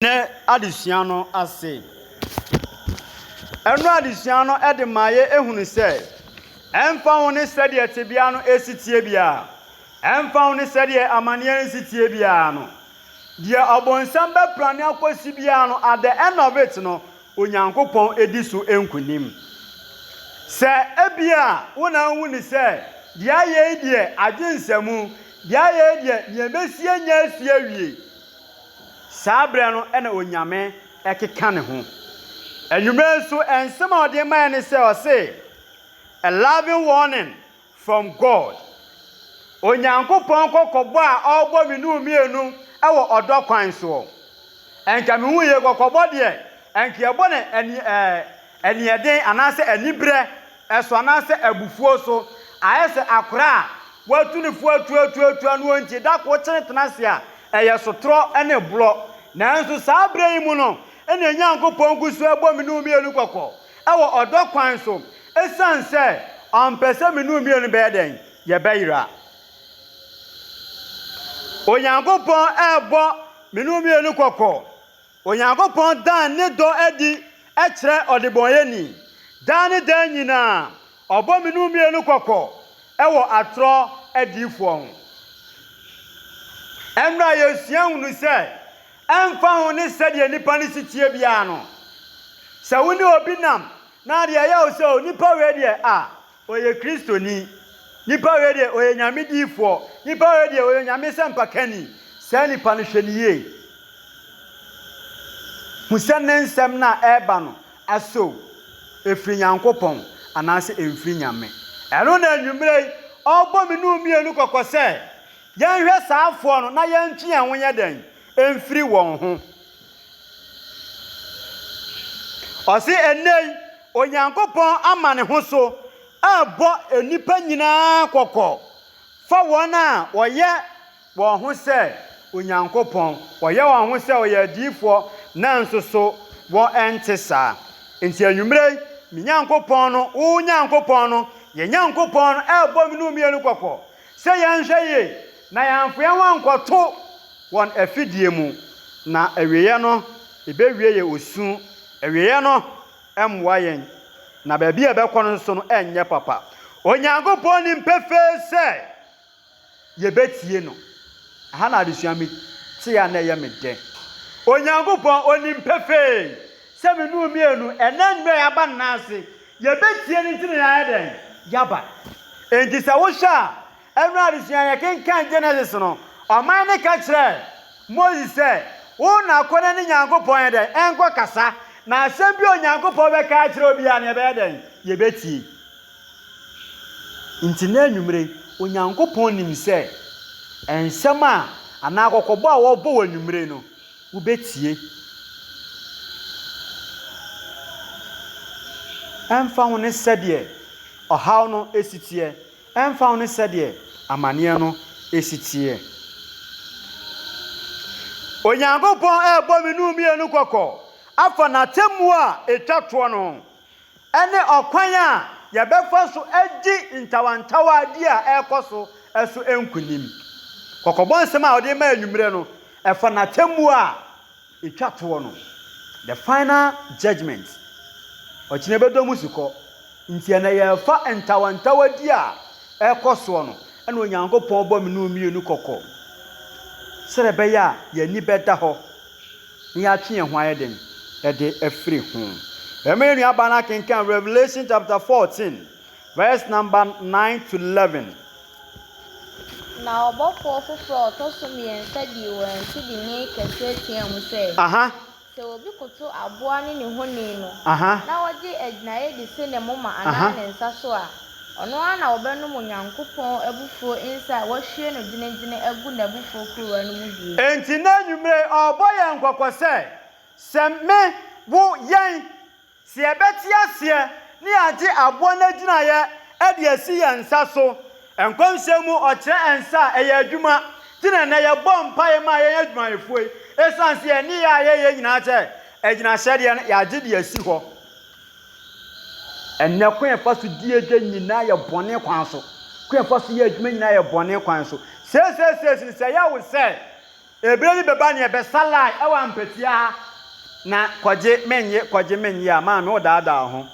Nnɛ adesua no ase. Ɛnnora adesua no de ma yɛhunu sɛ, ɛmfa ho ne sɛdeɛ tebea no si teɛ biara, ɛmfa ho ne sɛdeɛ amanneɛ no si teɛ biara no, deɛ ɔbonsam bɛprane akɔsi biara no, at the end of it no, Onyankopɔn di so nkonim. Sɛ ebia wo na wohu ne sɛ, deɛ ayɛ yi deɛ, adwensɛmu, deɛ ayɛ yi deɛ, deɛ ɛbɛsi anya afie awie. Saa berɛ no na Onyame keka ne ho. Anwummerɛ nso nsɛm a ɔde maeɛ ne sɛ, ɔse, A loving warning from God, Onyankopɔn kɔkɔbɔ a ɔrebɔ me ne wo mmienu wɔ ɔdɔ kwan soɔ. Nka mehu yei, kɔkɔbɔ deɛ nka yɛbɔ no aniɛden anaasɛ aniberɛ so anaasɛ abufuo so. Ayɛ sɛ akora a wɔatu ne fo atuatuatua no enti da koro kyere tena ase a, ɛyɛ sotorɔ ne borɔ. Nanso saa berɛ yi mu no na Onyankopɔn gu so rebɔ me ne wo mmienu kɔkɔ wɔ ɔdɔ kwan so ɛsiane sɛ ɔmpɛ sɛ me ne wo mmienu bɛyɛ dɛn? Yɛbɛyera. Onyankopɔn rebɔ me ne wo mmienu kɔkɔ. Onyankopɔn daa ne dɔ adi kyerɛ ɔdebɔneyɛni. Daa ne daa nyinaa, ɔbɔ me ne wo mmienu kɔkɔ wɔ atorɔ adiyifoɔ ho. Ɛnnora a yɛsua hunu sɛ, ɛmfa ho ne sɛdeɛ nnipa no si teɛ biara no, sɛ wo ne obi nam na adeɛ yɛ wo sɛ onipa wei deɛ a, Ɔyɛ Kristoni. Nipa wei deɛ ɔyɛ Nyame diyifoɔ. Nipa wei deɛ ɔyɛ Onyame sɛmpakani. Saa nipa no hwɛ no yie. Hu sɛ ne nsɛm no a ɛreba no aso ɛfiri Nyankopɔn anaasɛ ɛmfiri Nyame. Ɛno na anwummerɛ yi ɔrebɔ me ne wo mmienu kɔkɔ sɛ, yɛnhwɛ saa foɔ no na yɛntwe yɛn ho nyɛ dɛn? Mfiri wɔn ho. Ɔse ɛnnɛ yi Onyankopɔn ama ne ho so rebɔ nnipa nyinaa kɔkɔ fa wɔn a wɔyɛ wɔn ho sɛ Onyankopɔn, wɔyɛ wɔn ho sɛ wɔyɛ adiyifoɔ, nanso so wɔnte saa. Enti anwummerɛ yi, me Nyankopɔn no, wo Nyankopɔn no, yɛn Nyankopɔn no rebɔ me ne wo mmienu kɔkɔ sɛ yɛnhwɛ yie na yɛamfa yɛn ho ankɔto wɔn afidie mu, na awieeɛ no, ɛbɛwie yɛ osu. Awieeɛ no. mmoa yɛn, na baabi a ɛbɛkɔ no nso no nyɛ papa. Onyankopɔn nim pefee sɛ yɛbɛtie no. Ɛha na adesua me te a na ɛyɛ me dɛ. Onyankopɔn onim pefee sɛ me ne wo mmienu ɛnɛ nnura yɛaba nna ase, yɛbɛtie no nti na yɛayɛ dɛn? Yɛaba. Enti sɛ wohwɛ a, Ɛno adesua a yɛkenkan Genesis no, ɔman no ka kyerɛɛ Moses sɛ, Wo na kɔ na ne Nyankopɔn yɛ dɛn? Ɛnkɔ kasa, na asɛm bi a Onyankopɔn bɛka akyerɛ wo biara no yɛbɛyɛ dɛn? Yɛbɛtie. Nti na anwummere, Onyankopɔn nim sɛ nsɛm a anaa kɔkɔbɔ a wɔbɔ wɔ anwummere no, wobɛtie. Ɛmfa ho ne sɛdeɛ ɔhaw no si teɛ. Ɛmfa ho ne sɛdeɛ amaneɛ no si teɛ. Onyankopɔn rebɔ me ne wo mmienu kɔkɔ afa n'atemmuo a ɛtwa toɔ no ho, ɛne ɔkwan a yɛbɛfa so adi ntawantawaadeɛ a ɛrekɔ so so nkonim. Kɔkɔbɔ nsɛm a ɔde rema anwummerɛ no, ɛfa n'atemmuo a Etwa toɔ no, the final judgement, ɔkyena bɛdɔ mu sukɔ, nti ɛnɛ yɛrefa ntawantawadi a ɛrekɔ soɔ no, ɛna Onyankopɔn bɔ me ne wo mmienu kɔkɔ, sɛdeɛ ɛbɛyɛ a yɛn ani bɛda hɔ na yɛatwe yɛn ho ayɛ dɛn? de afiri ho. Ɛma yɛn nuabaa no akenkan Revelation chapter 14. Verse number nine to eleven. Na ɔbɔfoɔ foforɔ a ɔtɔ so mmiɛnsa dii wɔn akyi de nne kɛseɛ teaam sɛ, Aha, Sɛ obi koto aboa ne ne honi no, aha, na ɔgye agyinaeɛ de si ne moma anaa aha. ne nsa so a, ɔno ara na ɔbɛnom Onyankopɔn abufuo nsã a wɔahwie no gyenegyene agu n'abufuo kuruwa no mu bie. Enti nnɛ anwummere yi ɔrebɔ yɛn kɔkɔ sɛ, Sɛ me, wo, yɛn. Sɛ yɛbɛte aseɛ na yɛagye aboɔ no agyinaeɛ de asi yɛn nsa so, nkɔmhyɛ mu ɔkyerɛ nsa a ɛyɛ adwuma, nti na ɛnnɛ yɛbɔ mpaeɛ ma yɛn adwumayɛfoɔ yi, ɛsiane sɛ yɛn nneyɛɛ a yɛyɛ nyinaa sɛ agyinahyɛdeɛ no yɛagye de asi hɔ. Ɛnnɛ kwan a yɛfa so di adwa nyinaa yɛ bɔne kwan so, kwan a yɛfa so yɛ adwuma nyinaa yɛ bɔne kwan so. Seesei seesei no sɛ ɛyɛ wo sɛ. Eberɛ bi bɛba neɛ bɛsa lie ɛwɔ ampatia ha na kɔgye mennye kɔgye mennye a maame wo daadaa ho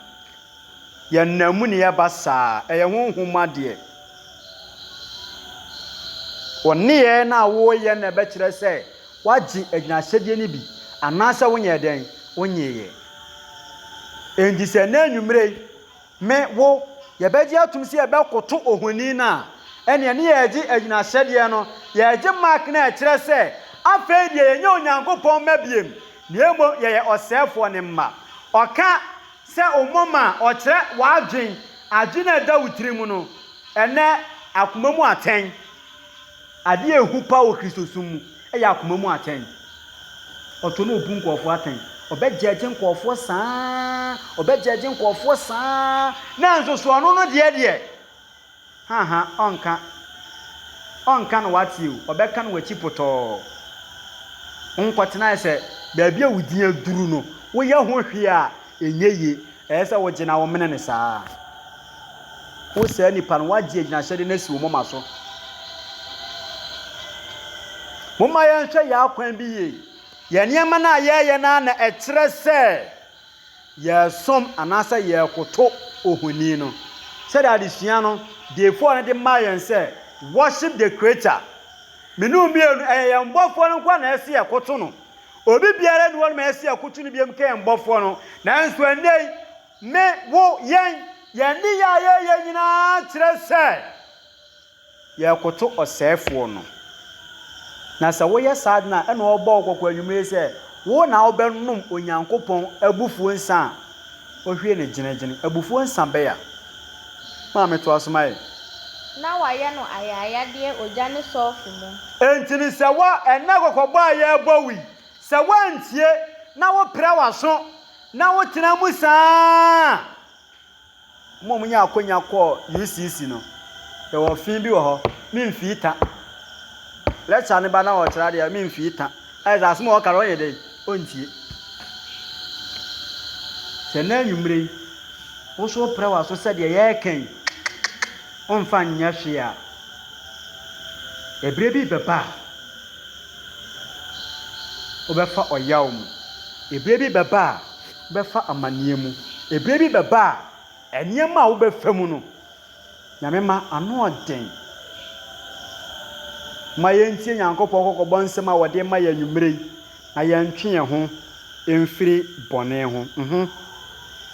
yɛ nna mu ne ɛba saa ɛyɛ honhom mu adeɛ wo nneyɛɛ no a woreyɛ na ɛbɛkyerɛ sɛ woagye agyinahyɛdeɛ no bi anaasɛ wonyɛɛ dɛn wonyeeɛ enti sɛ nnɛ anwummerɛ yi Me, wo, yɛbɛgye atom sɛ yɛbɛkoto ohoni no a, ɛnneɛ ne yɛregye agyinahyɛdeɛ no, yɛregye mark no a ɛkyerɛ sɛ afei deɛ yɛnyɛ Onyankopɔn mma biom, na mmom yɛyɛ ɔsɛefoɔ no mma. Ɔka sɛ wo moma a, ɔkyerɛ w'adwene, adwene a ɛda wo tirim no. Ɛnnɛ, akoma mu atɛn. Ade a ehu paa wɔ Kristosom mu yɛ akoma mu atɛn. Ɔtɔ na obu nkurɔfoɔ atɛn. Ɔbɛgyɛɛgye nkurɔfoɔ saa ara, ɔbɛgyɛɛgye nkurɔfoɔ saa ara, nanso so ɔno no deɛ deɛ? Haha, ɔnka. Ɔnka na wate o, ɔbɛka na wakyi potɔɔ. Wonkɔtenae sɛ baabi a wo din aduru no, woyɛ ho hwee a, Ɛnyɛ yie. Ɛyɛ sɛ wogye na womene no saa. Wo saa nipa no, woagye agyinahyɛde no asi wo moma so. Momma yɛnhwɛ yɛn akwan bi yie. Yɛn nneɛma no a yɛreyɛ no ara na ɛkyerɛ sɛ yɛresom anaasɛ yɛrekoto ohoni no. Sɛdeɛ adesua no diefoɔ no de maa yɛn sɛ, Worship the Creator. Mmienu mmienu, ɛyɛ yɛn Bɔfoɔ no nko ara na ɛsɛ sɛ yɛkoto no. Obi biara nni hɔ no ma ɛsi akutu no biam kɛn bɔfoɔ no. Nanso ɛnnɛ yi, me, wo, yɛn, yɛn nneyɛɛ a yɛyɛ nyinaa kyerɛ sɛ yɛrekoto ɔsɛefoɔ no. Na sɛ woyɛ saa de no a, ɛnna ɔrebɔ wo kɔkɔ anwummere yi sɛ, wo na wobɛnom Onyankopɔn abufuo nsã a Ohwie no gyenegyene. Abufuo nsã bɛn a? Maame toa so ma yɛn. Na wɔayɛ no ayaayadeɛ ogya ne sɔlfo mu. Enti no sɛ wɔ ɛnnɛ kɔkɔbɔ a yɛrebɔ wo yi, sɛ woantie na wopira w'aso na wotena mu saa a, Wɔn a wɔnyaa akwanya kɔɔ UCC no, yɛwɔ fi bi wɔ hɔ, me mfi ta. Lecture no ba na wɔkyerɛ adeɛ a, me mfi ta. Ayɛ sɛ asɛm a wɔka no ɔnyɛ dɛ, ɔntie. Sɛ nnɛ anwummere yi, wo so woprɛ w'aso sɛ deɛ yɛreka yi, womfa nyɛ hwee a, ɛberɛ bi bɛba a, wobɛfa ɔyaw mu. Ɛberɛ bi bɛba a. bɛfa amaneɛ mu. Ɛberɛ bi bɛba a, nneɛma a wobɛfa mu no, Nyame ma ano ɔden. Ma yɛntie Nyankopɔn kɔkɔbɔ nsɛm a wɔde ma yɛn anwummerɛ yi, na yɛntwe yɛn ho mfiri bɔne ho. Mhm.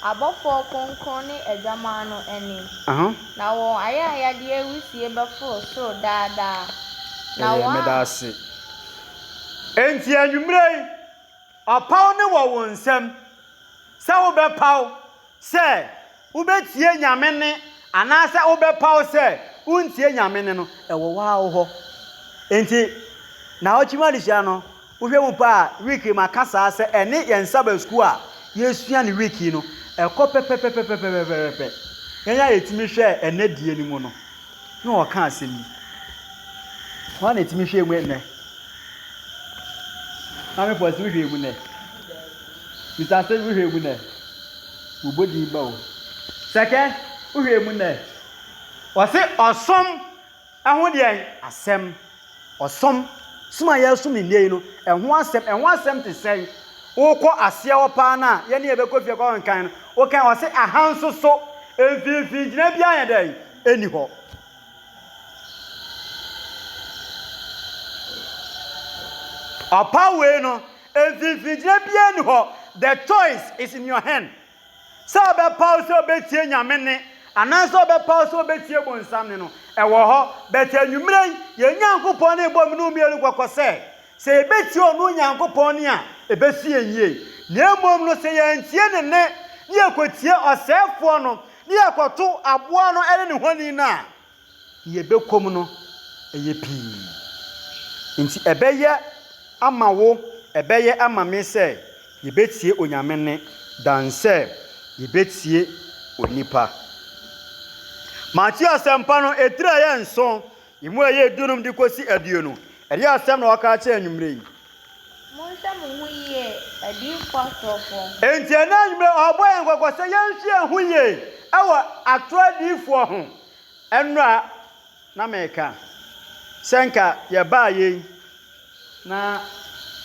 Abɔfoɔ kronkron ne Adwamaa no anim. Aha. Na wɔn ayayadeɛ wisie bɛforo soro daa daa, na Ɛyɛ wɔn a. meda ase. Enti anwummerɛ yi. Ɔpaw no wɔ wo nsam sɛ wobɛpaw sɛ wubetie Nyame nne anaasɛ wobɛpaw sɛ wuntie Nyame nne no, ɛwɔ wo ara wo hɔ. Enti, naawɔtwe mu adesua no, wohwɛ mu paa a, week yi maka saa sɛ ɛne yɛn Sabbath School a yesua no week yi no, ɛkɔ pɛpɛpɛpɛpɛpɛpɛpɛpɛ. Yɛn a yetumi hwɛɛ ɛnnɛ die no mu no, na ɔka asɛm bi. Hwan na ɛtumi hwɛɛ mu nnɛ? Maame Pɔsi wohwɛɛ mu nnɛ? Mr. Asɛm wohwɛɛ mu nnɛ? Wobɔ din ba o. Sɛkɛ wohwɛɛ mu nnɛ? Wɔse ɔsom ɛho deɛn asɛm? Ɔsom, som a yɛresom ne nnɛ yi no, ɛho asɛm, ɛho asɛm te sɛn? Wokɔ aseɛ hɔ paa no a, yɛne yɛbɛkɔ fie kɔ nkan no, wokan wɔse ahansoso, mfinfin gyina biara yɛ dɛn? nni hɔ. Ɔpaw wei no, mfinimfini gyina biara nni hɔ. The choice is in your hand. Sɛ ɔbɛpaw sɛ ɔbɛtie Nyame nne anaasɛ ɔbɛpaw sɛ ɔbɛtie bonsam nne no, ɛwɔ hɔ. But anwummerɛ yi, yɛn Nyankopɔn no rebɔ me ne mmienu kɔkɔ sɛ, sɛ yɛbɛtie ɔno Nyankopɔn nne a, ɛbɛsi yɛn yie. Na mmom no, sɛ yɛantie ne nne, na yɛkɔtie ɔsɛefoɔ no, ne yɛkɔto aboa no ne ne honi no a, nea ɛbɛkɔm no yɛ pii. Enti ɛbɛyɛ ama wo, ɛbɛyɛ ama me sɛ yɛbɛtie Onyame nne dan sɛ yɛbɛtie onipa. Mateo Asɛmpa no, etire a ɛyɛ nson, emu a ɛyɛ dunum de kɔsi aduonu, ɛdeɛ asɛm na wɔka akyerɛ anwummerɛ yi? Monhwɛ mo ho yie, adiyifoɔ atorɔfoɔ. Enti ɛnnɛ anwummerɛ ɔrebɔ yɛn kɔkɔ sɛ yɛnhwɛ yɛn ho yie wɔ atorɔ adiyifoɔ ho. Ɛnnora na meka sɛ nka yɛbaa yei na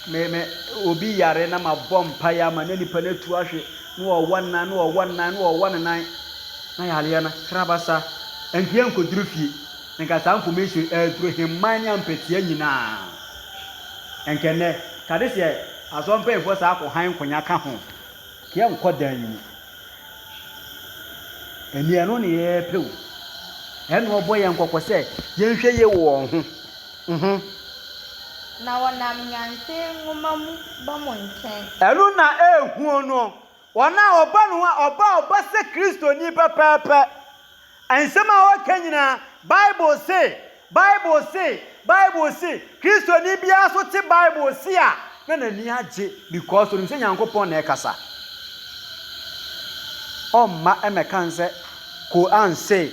me me obi yare na mabɔ mpaeɛ ama na nipa no atu ahwe na ɔwɔ nnan na ɔwɔ nnan na ɔwɔ ne nan na yareɛ no krabasa nhwɛ nkɔduru fie nka saa information ɛreduru hemman ne ampɛteɛ nyinaa. Nka ɛnnɛ, Kadesh yɛ Asɔre mpanyimfoɔ saa kɔ hann nkonya ka ho. Yɛ nkɔ dan yi mu. Ɛnneɛ ɛno ne yɛɛpɛ o. Ɛnna ɔbɔ yɛn kɔkɔ sɛ yɛnhwɛ yie wɔ wɔn ho. Mho. Na wɔnam Nyansae Nwoma mu ba mo nkyɛn. Ɛno na ɛɛhuo no Wɔn a wɔba no ho a, wɔba a wɔba sɛ Kristoni pɛpɛɛpɛ. Nsɛm a wɔka nyinaa, Bible se, Bible se, Bible se. Kristoni biara nso te Bible se a, na n'ani agye because onim sɛ Nyankopɔn na ɛrekasa. Ɔmma mmɛka no sɛ Qur'an se,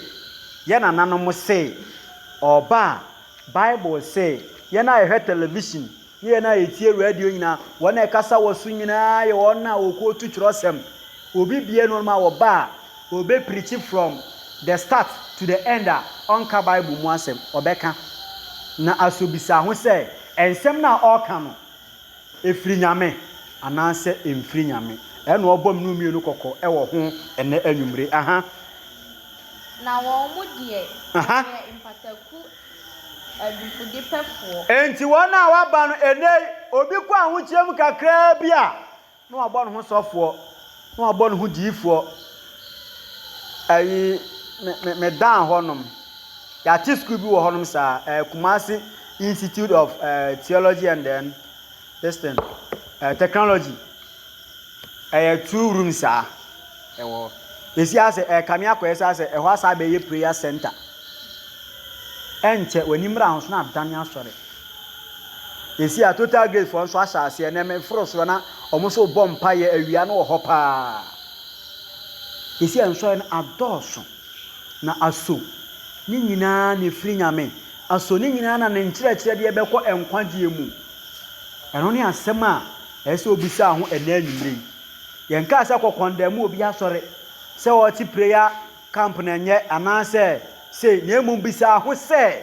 yɛn nananom se, ɔba a, Bible se, yɛn a yɛhwɛ television Ne yɛn a yɛtie radio nyinaa, wɔn a ɛkasa wɔ so nyinaa yɛ wɔn a wɔkɔɔtu twerɛsɛm. Obi bie no ma wɔba a, ɔbɛ preachi from the start to the end a ɔnka Bible mu asɛm. Ɔbɛka. Na asɔbisa ho sɛ ɛnsɛm no a ɔɔka no ɛfiri Nyame anaasɛ ɛmfiri Nyame. Ɛna ɔɔbɔ mnuu mmienu kɔkɔ wɔ ho ɛnɛ anwummere. Aha. Na wɔn deɛ wɔyɛ mpataku. Adifudepɛfoɔ. Enti wɔn a wɔaba no ɛnnɛ yi, obi kɔ ahokyerɛ mu kakraa bi a, na wɔabɔ ne ho sɔfoɔ, na wɔabɔ ne ho diifoɔ. Ayi, me, me, me dan hɔnom. Yɛate sukuu bi wɔ hɔnom saa, uh, Kumasi Institute of uh, Theology and then, this thing, uh, Technology. Ɛyɛ two room saa ɛwɔ hɔ. Yɛsi asɛ ɛɛ kame akɔ yɛsi asɛ ɛhɔ asa abɛyɛ prayer center. Ɛnkyɛ w'ani mmra ho so na adane asɔre. Yɛsi a total grace foɔ nso ahyɛ aseɛ na ɛmɛ foro soɔ na wɔn nso bɔ mpa yɛ awia no wɔ hɔ paa. Yɛsi a nsɔre no adɔɔso na aso ne nyinaa na ɛfiri nyame. Aso ne nyinaa na ne nkyerɛkyerɛ deɛ bɛkɔ nkwagyeɛ mu. Ɛno ne asɛm a. Ɛsɛ sɛ obisaa ho ɛnnɛ anwummere yi. Yɛnkaa sɛ kɔ kɔndɛn mu obi asɔre, sɛ ɔte prayer camp na ɛnyɛ, anaasɛ sei, na mmom bisaa ho sɛ,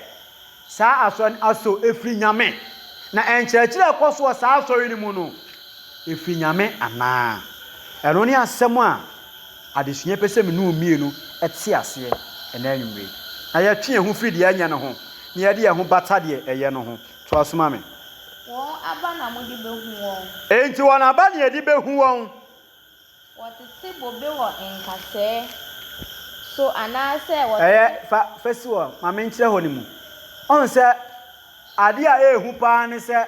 Saa asɔre no asɔ ɛfiri Nyame? Na nkyerɛkyerɛ a ɛkɔ so wɔ saa asɔre no mu no, ɛfiri Nyame anaa? Ɛno ne asɛm a adesua pɛ sɛ me ne wo mmienu te aseɛ ɛnnɛ anwummere yi. Na yɛtwe yɛn ho firi deɛ ɛnyɛ no ho, na yɛde yɛn ho bata deɛ ɛyɛ no ho. Toa so ma me. Wɔn aba na mode behu wɔn. Enti wɔn aba na yɛde behu wɔn. Wɔtete bobe wɔ nkasɛɛ so anaasɛ wɔtete. Ɛyɛ, fa, fa si hɔ ma menkyerɛ hɔ no mu. Ɔn sɛ, adeɛ a ɛyɛ hu paa ne sɛ,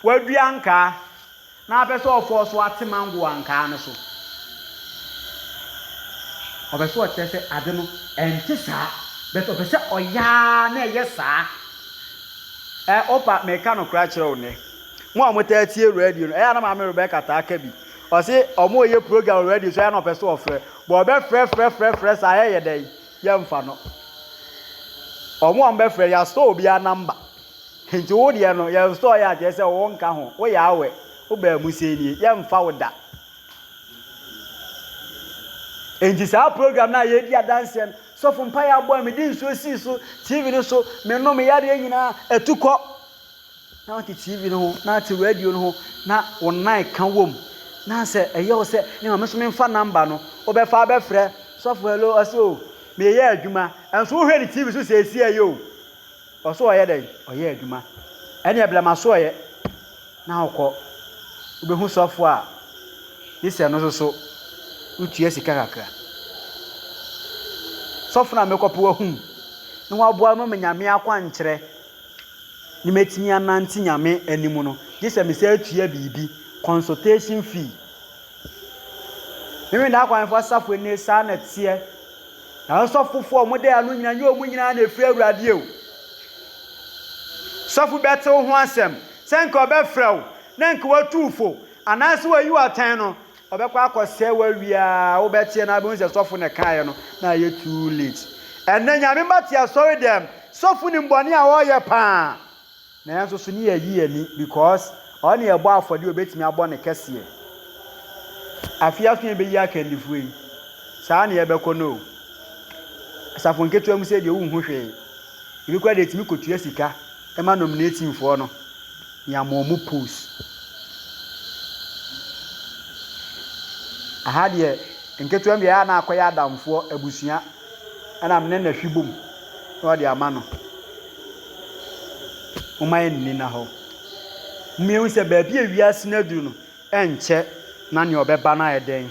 wɔadua nkaa. Na apɛ sɛ ɔfɔɔ so ate mango wɔ ankaa no so. Ɔpɛ sɛ ɔkyerɛ sɛ ade no ɛnte saa but ɔpɛ sɛ ɔyɛ ara na ɛyɛ saa. Ɛ opa meka nokora akyerɛ wo nnɛ. Mo a motaa tie radio no, ɛyɛ a na Maame Rebecca taa ka bi. Ɔse wɔreyɛ program wɔ radio so ɛyɛ a na ɔpɛ sɛ ɔfrɛ. But ɔbɛfrɛ frɛ frɛ frɛ saa yɛyɛ dɛn? Yɛmfa no. Wɔn a wɔbɛfrɛ, yɛasɔ obiara number. Nti wo deɛ no yɛ nstɔɔ yɛ a kyerɛ sɛ wo nka ho wo yɛ awɛ wo baa mu sei nie yɛ nfa wo da nti saa program no a yɛ di adanseɛ no sɔfo mpa yɛ abɔ a me di nsuo sii so tv no so me no me yareɛ nyinaa ɛtu kɔ na ɔte tv no ho na ɔte radio no ho na wo nan ka wom na sɛ ɛyɛ wo sɛ ne ma me so memfa namba no wobɛfa abɛfrɛ sɔfo hello ɔsɛ o meyɛ adwuma ɛnso wohwɛ ne tv so sɛ ɛsi ɛyɛ o Ɔso ɔyɛ dɛn? Ɔyɛ adwuma. Ɛneɛ brɛ masoɔyɛ na wokɔ. Wobɛhu sɔfoɔ a gye sɛ no nso so wotua sika kakra. Sɔfo no a mekɔ pɛ wahum ne waboa ma manya me akwankyerɛ ne matumi anante Nyame anim no, gye sɛ mesan tua biribi, consultation fee. Memendaa akwanfoɔ asafo nie saa na ɛteɛ. Nanso ɔfofo a wɔde ano nyinaa nyɛ wɔn nyinaa na efi Awurade o. Sɔfo bi bɛte wo ho asɛm, sɛ anka ɔbɛfrɛ wo na anka watu wo fo, anaasɛ wayi wo atɛn no, ɔbɛkɔ akɔsɛe w'awie a wobɛteɛ na abɛhu sɛ sɔfo na ɛkaeɛ no, na ayɛ too late. Ɛnnɛ, Nyame mma te asɔredɛm, sɔfo nim bɔne a wɔreyɛ paa. Nanso so ne yɛ yi ani because ɔne ɛbɔ afɔdeɛ obetumi abɔ ne kɛseɛ afei aso yɛ bɛyi akandifoɔ yi saa ne yɛ bɛkɔ no asafo nketewa mu sɛ deɛ wonhu hwee ebi kora deɛ tumi kɔtua sika ɛma nominatingfoɔ no ne ama ɔmo post aha deɛ nketewa mu deɛ yɛ a na akɔyɛ adamfoɔ abusua Ɛna me ne no ahwi bom na ɔde ama no. Momma yɛn nni na hɔ. Momma yɛn hu sɛ baabi a wiase no aduru no, ɛnkyɛ na nea ɔbɛba no ayɛ dɛn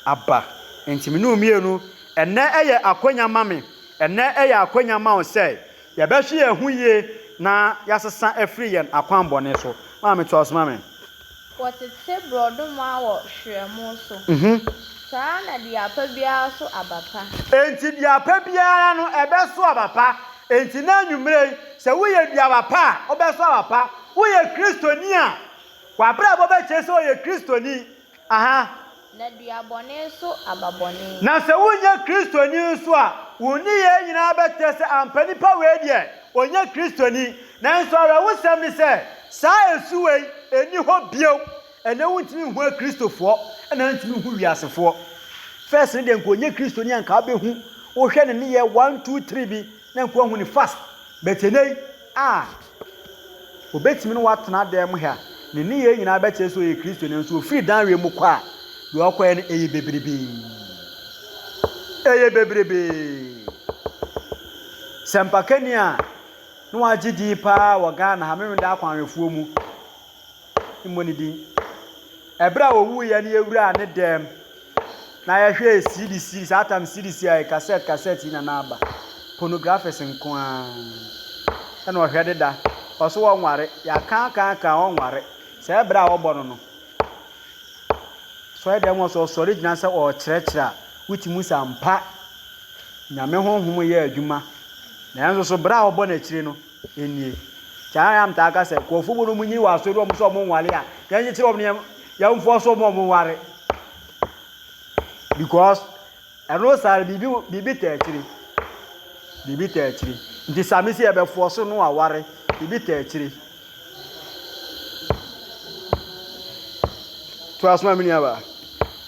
aba. Nti me ne wo mmienu, ɛnɛ ɛyɛ akwanya ma me, ɛnɛ ɛyɛ akwanya ma wo sɛ Yɛbɛhwe yɛn ho yie na yɛasesa afiri yɛn akwammɔne so. Maame toa so ma me. Wɔtete borɔdoma wɔ hwerɛmo so. Saa ara na dua pa biara so aba pa. Enti dua pa biara no, ɛbɛso aba pa. Enti nnɛ anwummere yi, sɛ woyɛ duaba pa a, wobɛso aba pa. Woyɛ Kristoni a, w'abrabɔ bɛkyerɛ sɛ ɔyɛ Kristoni. Aha. Na dua bɔne so aba bɔne. Na sɛ wonyɛ Kristoni nso a, wo nneyɛɛ nyinaa bɛkyerɛ sɛ ampa nipa wei deɛ, ɔnyɛ Kristoni. Nanso awerɛhosɛm ne sɛ, saa ɛsu wei nni hɔ bio. Ɛnnɛ wontumi nhu Akristofoɔ, ɛna wontumi nhu wiasefoɔ. First no deɛ nka ɔnyɛ Kristoni a nka wobɛhu, wohwɛ ne nneyɛɛ one, two, three bi na nka woahu no fast. But ɛnnɛ yi, ah! Obetumi ne wo atena dan mu ha, ne nneyɛe nyinaa bɛkyerɛ sɛ ɔyɛ Kristoni, nanso ofiri dan wei mu kɔ a, deɛ ɔkɔeɛ no, ɛyɛ bebrebee. Ɛyɛ bebrebee. Sɛmpakani a na wagye din paa wɔ Ghana ha, Memeneda Akwanhwɛfoɔ mu. mmɔ ne din. Ɛberɛ a ɔwuiɛ no yɛwuraa ne dɛm na yɛhwɛɛ CD CD saa tam CD CD a kasɛt kasɛt yi na n'aba pornographies nko ara ɛna ɔhwɛ deda ɔso wɔnware yɛakan kan kan ɔnware sɛ ɛberɛ a wɔbɔ no no sɔre dɛm ɔso ɔsɔre gyina sɛ ɔrekyerɛkyerɛ a wote mu sɛ ampa nyame honhom yɛ adwuma nanso so berɛ a wɔbɔ n'akyire no nie. Saa ara na metaa ka sɛ nkurɔfo mu no wɔnyini wɔ asɔre wɔn sɛ wɔn nware a, yɛnkyekyere wɔn na yɛmfoɔ so wɔn a wɔn nware. Because ɛno saa no biribi biribi taa akyire. Biribi taa akyire. Nti saa me si yɛbɛfoɔ so no aware. Biribi taa akyire. To asoma me nuaba.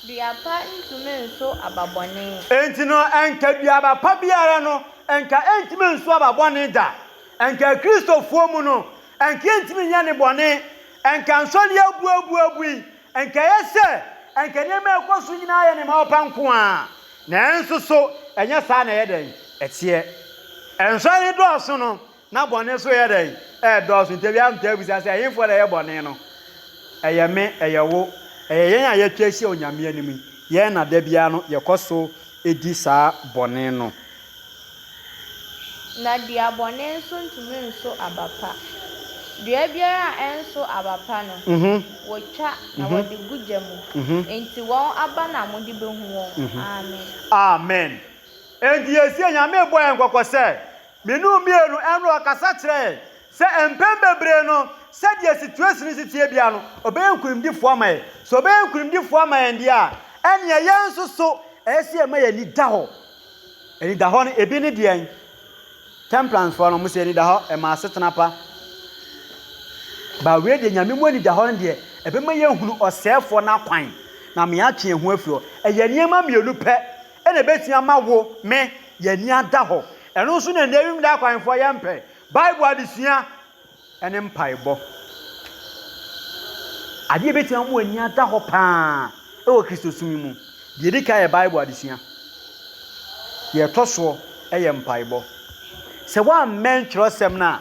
Dua pa ntumi nso aba bɔne. Enti no ɛnka duaba pa biara no Nka entumi ensu aba bɔne da. Nka Akristofoɔ mu no, nka entumi nyɛ ne bɔne. Nka nsɔre abuabuabui. Nka ɛyɛ sɛ nka nneɛma a ɛkɔ so nyinaa yɛ nneɛma ɔpa nko ara. Nanso so ɛnyɛ saa na ɛyɛ dɛn? Ɛteɛ. Nsɔre dɔɔso no, Ná bɔne so reyɛ dɛn? Ɛredɔɔso. Enti ebinom taa bisa sɛ, 'Ɛhefoɔ na ɛyɛ bɔne no? Ɛyɛ me? Ɛyɛ wo? Ɛyɛ yɛn a yɛatwa ahyia Onyame anim yi? Yɛn na da biara no yɛkɔ so di saa bɔne no. Na dua bɔne nso ntumi nso aba pa. Dua biara a ɛnso aba pa no, wɔtwa na wɔde gu gya mu. Enti wɔn aba na mode bɛhu wɔn. Amen. Amen. Enti yɛresie, Nyame rebɔ yɛn kɔkɔ sɛ, Me no mmienu ɛno ɔkasa kyerɛ yɛn sɛ mpɛn bebree no sɛdeɛ situation no si teɛ biara no ɔbɛyɛ nkunimdifoɔ ama yɛn. Sɛ ɔbɛyɛ nkunimdifoɔ ama yɛn deɛ a ɛneɛ yɛn nso so ɛyɛ sɛ yɛma yɛn ani da hɔ. Ani da hɔ no ebi ne deɛn? Temperance foɔ no wɔn sɛ ani da hɔ ɛma asetena pa. Bawee deɛ nyame mu ani da hɔ no deɛ ɛbɛma yɛn hunu ɔsɛɛfoɔ no akwan na ama yɛatwe yɛn ho afiri hɔ. Ɛyɛ nneɛma mmienu pɛ. na ebetumi ama wo, me, yɛn ani ada hɔ. Ɛno nso na nnɛ wimu daa akwanfoɔ yɛmpɛ, Bible adesua ne mpaebɔ. Adeɛ ebetumi ama w'ani ada hɔ paa wɔ Kristosom yi mu. Deɛ edi kan yɛ Bible adesua. Deɛ ɛtɔ soɔ yɛ mpaebɔ. Sɛ woammɛn twerɛsɛm no a,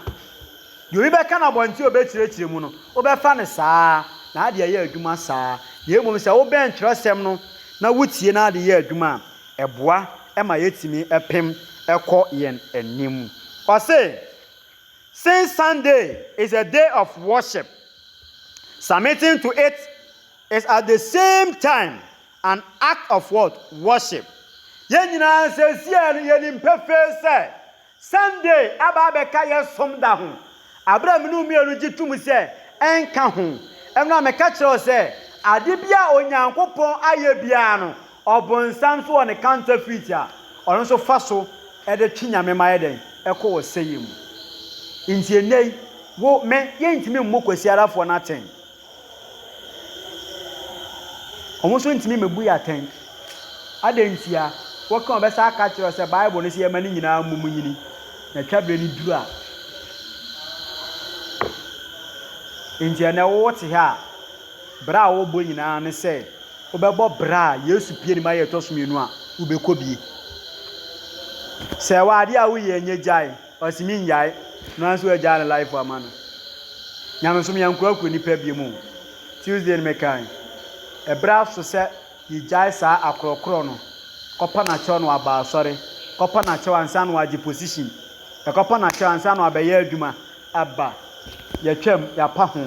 Deɛ obi bɛka no abɔnten a ɔbɛkyerɛkyerɛ mu no, wobɛfa no saa ara, na ade ayɛ adwuma saa ara. Na mmom sɛ wobɛn twerɛsɛm no na wotie na ade yɛ adwuma a, ɛboa ma yɛtumi pem kɔ yɛn anim. Ɔse, Since Sunday is a day of worship, submitting to it is at the same time an act of what? Worship. Yɛn nyinaa seesei no yɛnim pefee sɛ, Sunday aba abɛka yɛn som da ho, bere a me ne wo mmienu gye tom sɛ ɛnka ho. Ɛno na meka kyerɛ wo sɛ, ade biara a Onyankopɔn ayɛ biara no, Ɔbonsam nso wɔ ne counterfeit a ɔno nso fa so de twe Nyame ma yɛ dɛn? kɔ ɔsɛeɛ mu. Enti ɛnnɛ yi, wo, me, yɛntumi mmu Kwasiarafoɔ no atɛn. Wɔn nso ntumi mmebu yɛn atɛn. Adɛn ntia? Woka a, wɔbɛsan aka akyerɛ wo sɛ Bible no se yɛmma ne nyinaa mmom nnyini, na twa berɛ no duru a. Enti ɛnnɛ wote ha a, bra a wobɔ nyinaa ne sɛ wobɛbɔ bra a Yesu pue ne ma yɛ ɛtɔ so mmienu a, wobɛkɔ bie. Sɛ ɛwɔ adeɛ a woyɛ nyɛ gyae. Ɔse me ngyae no anso agyaa ne life ama no nyamesom yɛnkorakora nipa biom o Tuesday no mekae ɛberɛ aso sɛ yɛgyae saa akorɔkorɔ no kɔpa nakyɛw na waba asɔre kɔpa nakyɛw ansa na wagye position ɛkɔpa nakyɛw ansa na wabɛyɛ adwuma ɛba yɛtwam yɛapa ho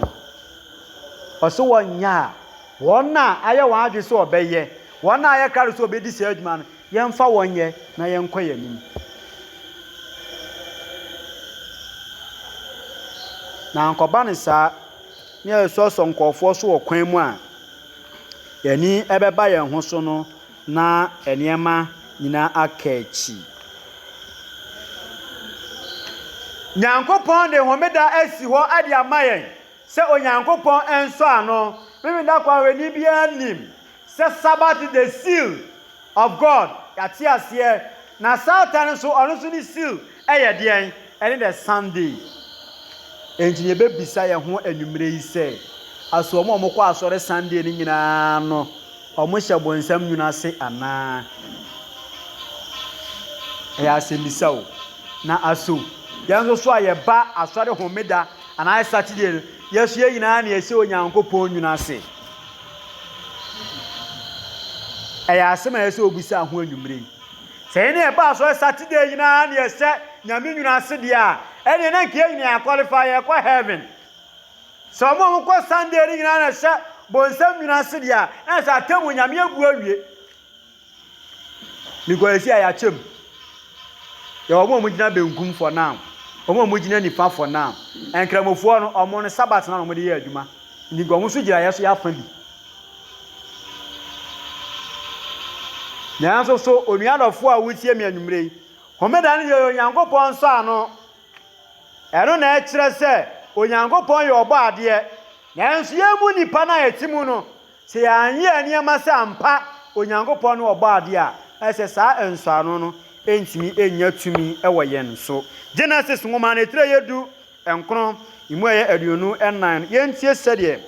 ɔse wɔnyɛ a wɔn a ayɛ wɔn adwene sɛ ɔbɛyɛ wɔn a ayɛ krado sɛ ɔbɛdi saa adwuma no Yɛmfa wɔn nyɛ na yɛnkɔ yɛn anim. Na ankɔba no saa na yɛsɔsɔ nkurɔfoɔ so wɔ kwan mu a, yɛn ani bɛba yɛn ho so no na nneɛma nyinaa aka akyi. Nyankopɔn de homeda asi hɔ de ama yɛn sɛ Onyankopɔn nsɔ ano. Memeda kwan wɔ ani biara nim. Sɛ Sabbath de seal of God yɛate aseɛ na Satan nso ɔno nso ne seal yɛ deɛn? Ɛne the Sunday. Enti yɛbɛbisa yɛn ho anwummerɛ yi sɛ aso wɔn a wɔkɔ asɔre Sunday no nyinaa no wɔhyɛ bonsam nwunu ase anaa? Ɛyɛ asɛmmisa o. Na aso yɛn nso so a yɛba asɔre homeda anaa Saturday no yɛso yɛn nyinaa na yɛhyɛ Onyankopɔn nwunu ase? Ɛyɛ asɛm a ɛyɛ sɛ obisaa ho anwummere yi. Sɛ yɛn ne yɛn ba asɔre Saturday nyinaa na yɛhyɛ Nyame nwunu ase deɛ a, ɛneɛ na nka yɛn nyinaa yɛakɔlefa, yɛkɔ heaven. Sɛ wɔn a wɔkɔ Sunday no nyinaa na ɛhyɛ bonsam nwunu ase deɛ a, na sɛ atemmu Nyame abu awie. Mekɔ esi a yɛakyɛ mu. Yɛwɔ wɔn a wɔgyina benkum for now, wɔn a wɔgyina nifa for now. Nkramofoɔ no, wɔn no sabat na wɔde yɛ adwuma. Nti nka wɔn nso gyina yɛ so yɛ afa bi. Nanso so onua dɔfoɔ a wotie me anwummerɛ yi, homeda no yɛ Onyankopɔn nsɔ ano. Ɛno na ɛkyerɛ sɛ Onyankopɔn yɛ ɔbɔ adeɛ. Nanso yɛn mu nipa no a yɛte mu no, Sɛ yɛanyɛ nneɛma sɛ ampa Onyankopɔn ne Ɔbɔadeɛ a, ɛsɛ saa nsɔano no ntumi nnya tumi wɔ yɛn so. Genesis nwoma no tire a ɛyɛ du nkron, emu a ɛyɛ aduonu nnan no, yɛntie sɛdeɛ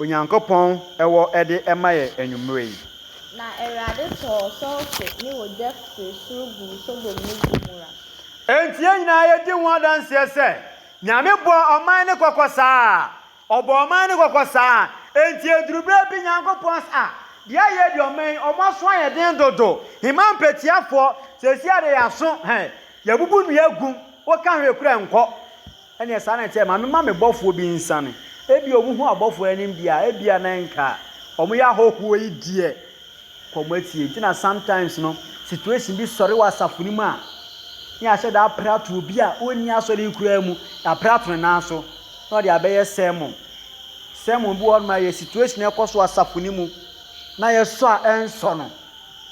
Onyankopɔn wɔ de ma yɛn anwummerɛ yi. Na Awurade tɔɔ sɔlfe ne ogya firi soro guu Sodom ne Gomora. Enti yɛn nyinaa yɛdi ho adanseɛ sɛ Nyame bɔɔ ɔman no kɔkɔ saa. Ɔbɔ ɔman no kɔkɔ saa. Enti eduru bere bi Nyankopɔn se, ah, deɛ ayɛ deɛ ɔman yi, wɔn aso ayɛ den dodo. Heman mpatiafoɔ, seesei ara deɛ yɛn aso, hɛ, yɛabubu nnua agu, woka hwee koraa ɛnkɔ. Ɛnneɛ saa na ɛteɛ, ma memma me bɔfoɔ bi nsiane. Ebia wɔhu abɔfoɔ anim deɛ a, ebia na ɛnka. Wɔyɛ ahɔhoɔ yi deɛ. kɔ mo atie nti na sometimes no situation bi sɔre wɔ asafo no mu a ne yɛahyɛ da apere ato obi a ɔnni asɔre yi koraa mu yɛapere ato ne nan so na ɔde abɛyɛ sermon sermon bi wɔ hɔnom a yɛ situation ɛkɔ so asafo no mu na yɛsɔ a ɛnsɔ no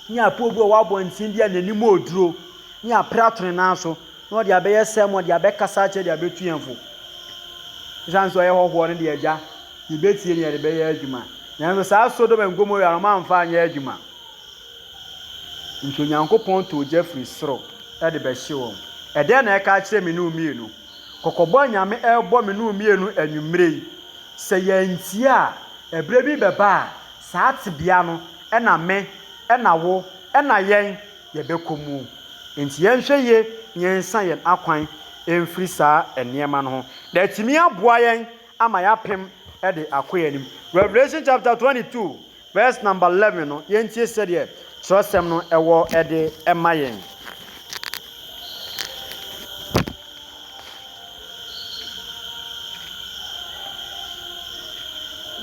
ne apoo bi wɔ wɔ abɔnten bi a n'anim ɔduro ne yɛapere ato ne nan so Na ɔde abɛyɛ sɛm, ɔde abɛkasa akyerɛ de abetu yɛn fo. Esiane sɛ ɔyɛ hɔhoɔ no de, Agya, yebetie na yɛde bɛyɛ adwuma. Nanso saa Sodom and Gomorrah no, wɔamfa anyɛ adwuma. Enti Onyankopɔn too gya firi soro de bɛhye wɔn. Ɛdɛn na ɛka akyerɛ me ne wo mmienu? Kɔkɔbɔ a Nyame rebɔ me ne wo mmienu anwummere yi, sɛ yɛantie a, ɛberɛ bi bɛba a, saa tebea no na me, na wo, na yɛn, yɛbɛkɔ mu. Enti yɛnhwɛ yie na yɛnsa yɛn akwan mfiri saa nneɛma no ho, na atumi aboa yɛn ama yɛapem de akɔ yɛn anim. Revelation chapter 22 verse number 11 no, yɛntie sɛdeɛ twerɛsɛm no ɛwɔ de ma yɛn.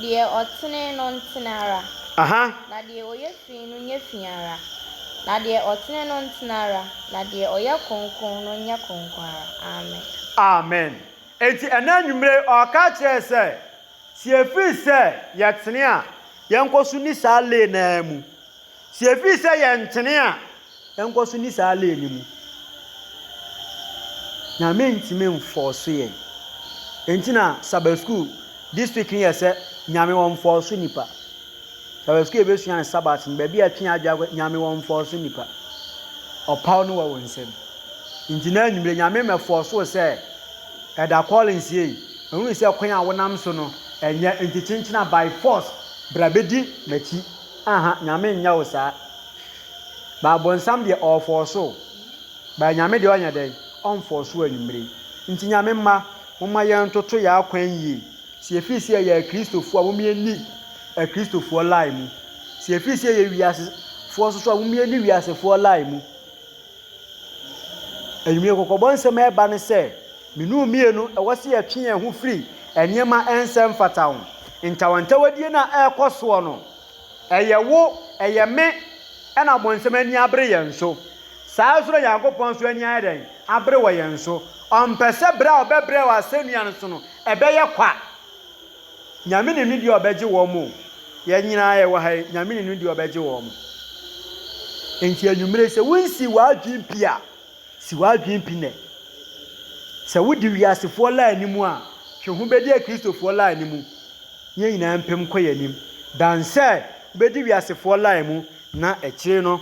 Deɛ ɔtene no ntene ara. Aha. Na deɛ ɔyɛ. Pii no nyɛ fi ara, na deɛ ɔtene no ntene ara, na deɛ ɔyɛ kronkron no nyɛ kronkron ara. Amen. Amen. Enti ɛnnɛ anwummere yi, ɔreka akyerɛ yɛn sɛ, sɛ yɛfiri sɛ yɛtene a, yɛnkɔ so nni saa lane no ara mu. Sɛ yɛfiri sɛ yɛntene a, Yɛnkɔ so nni saa lane no mu. Na mentumi mfɔɔso yɛn. Enti na Sabbath school district no yɛ sɛ Nyame wɔ mfɔɔso nipa. Sabbath school yɛbɛsua no Sabbath no baabi a ɛtwe adwene akɔ Nyame wɔ mfɔɔso nipa. Ɔpaw no wɔ wo nsam. Nti na anwummere Nyame mmɛfɔɔso wo sɛ ɛda Collins yɛ yi. Mahunu sɛ kwan a wonam so no ɛnyɛ nti kyenkyena by force bra bɛdi m'akyi. Aha, Nyame nyɛ wo saa. But bonsam deɛ ɔɔfɔɔso o. But Nyame deɛ ɔnyɛ dɛn? Ɔnfɔɔso o anwummere yi. Nti Nyame mma, momma yɛntoto yɛn akwan yie. Sɛ yɛfiri sɛ yɛyɛ Akristofoɔ a, momma yɛnni Akristofoɔ line mu. Sɛ yɛfiri sɛ yɛyɛ wiasefoɔ nso so a, momma yɛnni wiasefoɔ line mu. Anwummere kɔkɔbɔ nsɛm a ɛba ne sɛ, mmienu mmienu, ɛwɔ sɛ yɛtwe yɛn ho firi nneɛma a ɛnsɛ mfata ho. Ntawantawadie no a ɛrekɔ soɔ no, Ɛyɛ wo, ɛyɛ me na Ɔbonsam ani abere yɛn so. Saa ara nso na Nyankopɔn nso ani ayɛ dɛn? Abere wɔ yɛn so. Ɔmpɛ sɛ bere a ɔbɛbrɛ wɔ asɛnnua no so no, ɛbɛyɛ kwa. Nyame nim ne deɛ ɔbɛgye wɔn o. Yɛn nyinaa yɛwɔ ha yi, Nyame nim ne deɛ ɔbɛgye wɔn. Enti anwummere sɛ wonsi w'adwene pi a, Si w'adwene pi nnɛ. Sɛ wodi wiasefoɔ line no mu a, twe ho bɛdi Akristofoɔ line no mu. Yɛn nyinaa mpem nkɔ yɛn anim. Dan sɛ wobɛdi wiasefoɔ line mu na akyire no